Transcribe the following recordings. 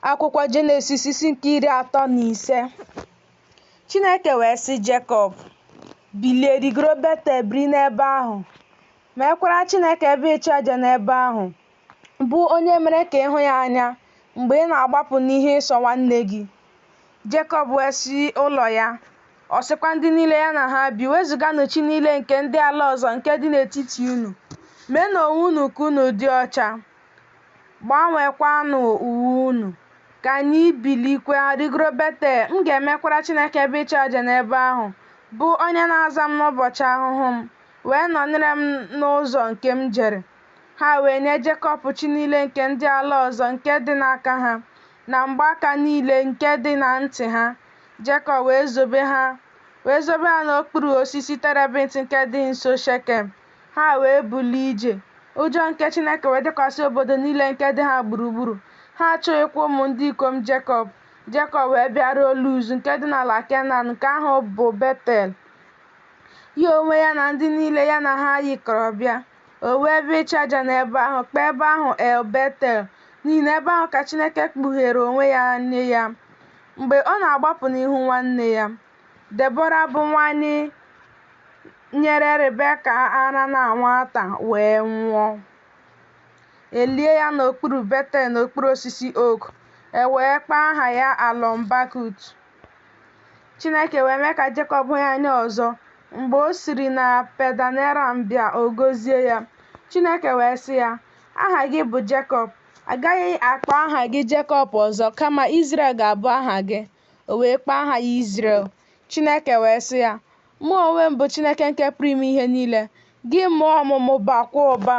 Akwụkwọ Jenesis isi nke iri atọ na ise Chineke wee sị Jekọb, Bilie rigoro Betel biri n'ebe ahụ, meekwara Chineke ebe ịchụ aja n'ebe ahụ, bụ onye mere ka ị hụ ya anya mgbe ị na-agbapụ n'ihu Ịsọ nwanne gị. Jekọb wee sị ụlọ ya, ọ sịkwa ndị niile ya na ha bi, wezuganụ chi niile nke ndị ala ọzọ nke dị n'etiti unu, meenụ onwe unu ka unu dị ọcha. Gbanwekwanụ uwe unu, ka anyị bilikwa rigoro Betel, m ga-emekwara Chineke ebe ịchụ aja n'ebe ahụ, bụ onye na-aza m n'ụbọchị ahụhụ m, wee nọnyere m n'ụzọ nke m jere. Ha wee nye Jekọb chi niile nke ndị ala ọzọ nke dị n'aka ha, na mgbaaka niile nke dị na ntị ha. Jekọb wee zobe ha wee zobe ha n'okpuru osisi terebint nke dị nso Shekem. Ha wee bulie ije, ụjọ nke Chineke wee dịkwasị obodo niile nke dị ha gburugburu. Ha achụghịkwa ụmụ ndị ikom Jekọb. Jekọb wee bịaruo Luz nke dị n'ala Kenan, nke ahụ bụ Betel, ya onwe ya na ndị niile ya na ha yikọrọ bịa. O wuo ebe ịchụ aja n'ebe ahụ, kpọọ ebe ahụ El Betel, n'ihi na ebe ahụ ka Chineke kpugheere onwe ya nye ya mgbe ọ na-agbapụ n'ihu nwanne ya. Debọra bụ nwanyị nyere Rebeka ara na nwata wee nwụọ. E lie ya n'okpuru Betel n'okpuru osisi oak, e wee kpọọ aha ya Alọn Bakut. Chineke wee mee ka Jekọb hụ ya anya ọzọ mgbe o siri na Padan Aram bịa ọ gọzie ya. Chineke wee sị ya, Aha gị bụ Jekọb, a gaghị akpọ aha gị Jekọb ọzọ, kama Izrel ga-abụ aha gị. O wee kpọọ aha ya Izrel. Chineke wee sị ya, Mụ onwe m bụ Chineke nke pụrụ ime ihe niile. Gị mụọ ọmụmụ bakwa ụba.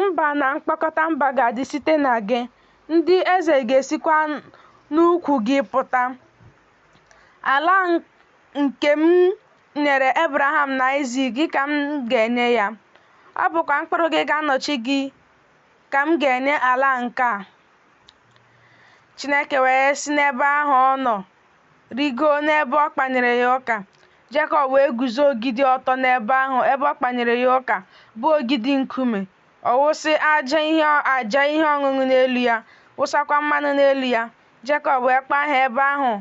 Mba na mkpọkọta mba ga-adị site na gị, ndị eze ga-esikwa n'ukwu gị pụta. Ala nke m nyere Ebraham na Aịzik gị ka m ga-enye ya. Ọ bụkwa mkpụrụ gị ga-anọchi gị ka m ga-enye ala nke a. Chineke wee si n'ebe ahụ ọ nọ rigoo n'ebe ọ kpanyere ya ụka. Jekọb wee guzo ogidi ọtọ n'ebe ahụ ebe ọ kpanyere ya ụka, bụ ogidi nkume. Ọ wụsị aja ihe ọṅụṅụ n'elu ya, wụsakwa mmanụ n'elu ya. Jekọb wee kpọọ aha ebe ahụ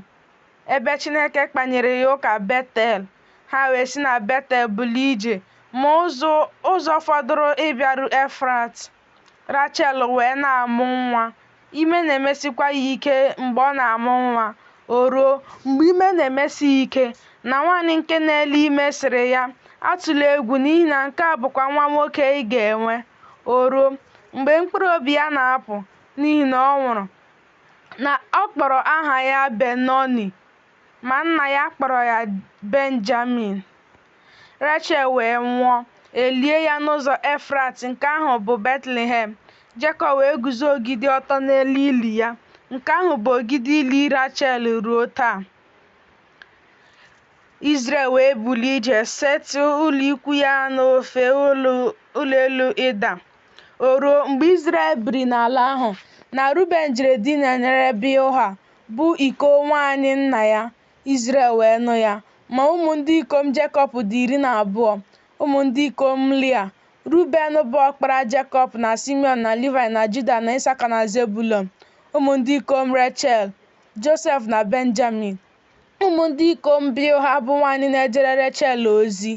ebe Chineke kpanyere ya ụka Betel. Ha wee si na Betel bulie ije, ma ụzọ ụzọ fọdụrụ ịbịaru Efrat. Rachel wee na-amụ nwa. Ime na-emesikwa ya ike mgbe ọ na-amụ nwa. O ruo, mgbe ime na-emesi ya ike, na nwaanyị nke na-ele ime sịrị ya, Atụla egwu n'ihi na nke a bụkwa nwa nwoke ị ga-enwe. O ruo, mgbe mkpụrụ obi ya na-apụ n'ihi na ọ nwụrụ, na ọ kpọrọ aha ya Benoni, ma nna ya kpọrọ ya Benjamin. Rachel wee nwụọ, e lie ya n'ụzọ Efrat nke ahụ bụ Betlehem. Jekọb wee guzo ogidi ọtọ n'elu ili ya. Nke ahụ bụ ogidi ili Rachel ruo taa. Izrel wee bulie ije setị ụlọ ikwu ya n'ofe ụlọ elu Ịda. O ruo mgbe Izrel biri n'ala ahụ na Ruben jere dinanyere Bilha, bụ iko nwaanyị nna ya, Izrel wee nụ ya. Ma ụmụ ndị ikom Jekọb dị iri na abụọ, ụmụ ndị ikom Lia, Ruben bụ ọkpara Jekọb na Simiọn na Livaị na Juda na Isaka na Zebulọn, ụmụ ndị ikom Rechel, Josef na Benjamin, ụmụ ndị ikom Bilha bụ nwaanyị na-ejere Rechel ozi,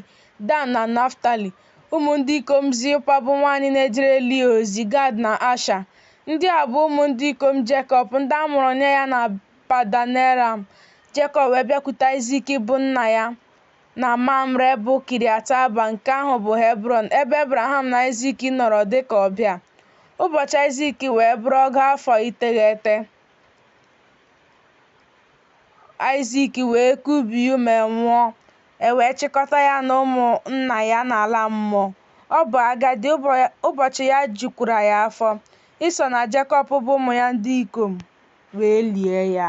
Dan na Naftali, ụmụ ndị ikom Zilpa bụ nwaanyị na-ejere Lia ozi, Gad na Asha. Ndị a bụ ụmụ ndị ikom Jekọb, ndị a mụrụ nye ya na Padan Eram, Jekọb wee bịakwute Aịzik bụ nna ya na Mamre bụ Kiriat Aba, nke ahụ bụ Hebrọn, ebe Ebraham na Aịzik nọrọ dị ka ọbịa. Ụbọchị Aịzik wee bụrụ ọgụ afọ iteghete. Aịzik wee kubie ume nwụọ, e wee chịkọta ya na ụmụ nna ya n'ala mmụọ. Ọ bụ agadi, ụbọchị ya jukwara ya afọ. Ịsọ na Jekọb bụ ụmụ ya ndị ikom wee lie ya.